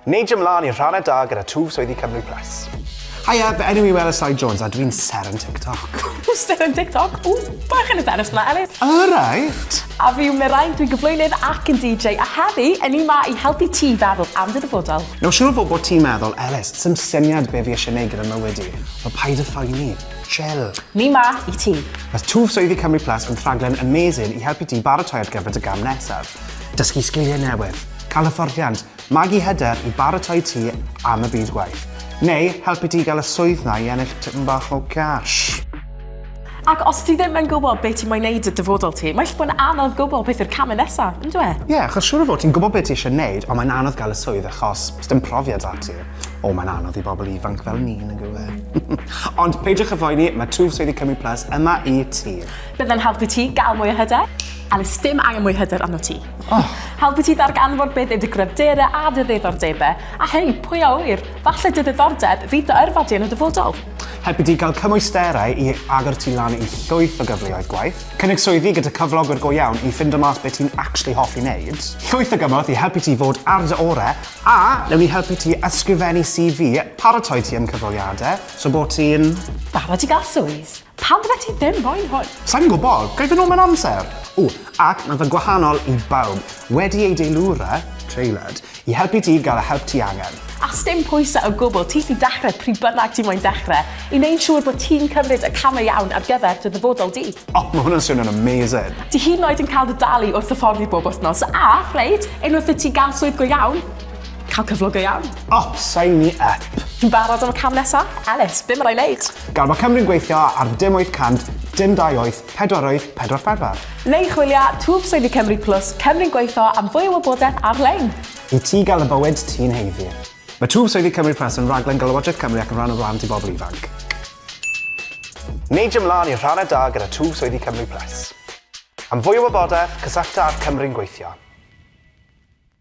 Neidio mlan i'r rhannau da gyda twf swyddi Cymru Plus. Haia, fy enw i Wela Soi Jones a dwi'n ser yn TikTok. Ww, ser yn TikTok? Ww, bach yn hyderus fyna, Elis. Alright! A fi yw Mirain, dwi'n gyflwynydd ac yn DJ, a heddi, yn ni ma i helpu ti feddwl am dy ddyfodol. Nawr siwr o fod bod ti'n meddwl, Elis, sdim syniad be fi eisiau neud gyda mywyd i. Wel paid a phoeni. Chill. Ni ma i ti. Mae Twf Swyddi Cymru Plus yn rhaglen amazing i helpu ti baratoi ar gyfer dy gam nesaf. Dysgu sgiliau newydd. Cael hyfforddiant, magu hyder i baratoi ti am y byd gwaith. Neu helpu ti gael y swydd na i ennill tipyn bach o cash. Ac os ti ddim yn gwybod beth ti moyn neud y dyfodol ti, mae'n bod yn anodd gwybod beth yw'r camau nesaf, yn dwe? Ie, yeah, achos siwr o fod ti'n gwybod beth ti eisiau neud, ond mae'n anodd gael y swydd achos os dim profiad da ti. O, mae'n anodd i bobl ifanc fel ni, yn gwe. ond peidiwch y foeni, mae Twf Swyddi Cymru Plus yma i ti. Byddai'n helpu ti gael mwy o hyder, a nes dim angen mwy hyder arno ti. Oh. Helpu ti ddarganfod beth yw dy gryfderau a dy ddiddordebau, a hei, pwy a ŵyr, falle dy ddiddordeb fydd dy yrfa di yn y dyfodol. Helpu ti gael cymwysterau i agor ti lan i llwyth o gyfleoedd gwaith, cynnig swyddi gyda cyflogwyr go iawn i ffindo mas beth ti'n actually hoffi wneud, llwyth o gymorth i helpu ti fod ar dy orau, a newn ni helpu ti ysgrifennu CV, paratoi ti am cyfweliadau, so bod ti'n... Barod i gael swydd. Pam fyddet ti ddim moyn hwn? Sa i'n gwybod, ga i fynd nôl mewn amser? O, ac mae fe'n gwahanol i bawb. Wedi ei deilwra, tailored, i helpu ti gael y help ti angen. A sdim pwysau o gwbl, ti sy'n dechrau pryd bynnag ti moyn dechrau, i wneud siŵr bod ti'n cymryd y camau iawn ar gyfer dy ddyfodol di. O, mae hwnna'n swnio'n amazing! Ti hyd yn oed yn cael dy dalu wrth hyfforddi bob wythnos, a, reit, unwaith i ti gael swydd go iawn, Cael cyflog go iawn. O, sign me up. Fi'n barod am y cam nesa. Elis, be ma rai neud? Gan bod Cymru'n gweithio ar dim 800, dim 28, pedwaroedd, pedwar pedwar. Neu chwilia twf swyddi Cymru Plus, Cymru'n gweithio am fwy o wybodaeth ar-lein. I ti gael y bywyd ti'n heiddi. Mae Twf Swyddi Cymru Plus yn raglen gan Lywodraeth Cymru ac yn rhan o Wlad i Bobl Ifanc. Neidio mlaen i'r rhannau da gyda Twf Swyddi Cymru Plus. Am fwy o wybodaeth, cysyllta â'r Cymru'n gweithio.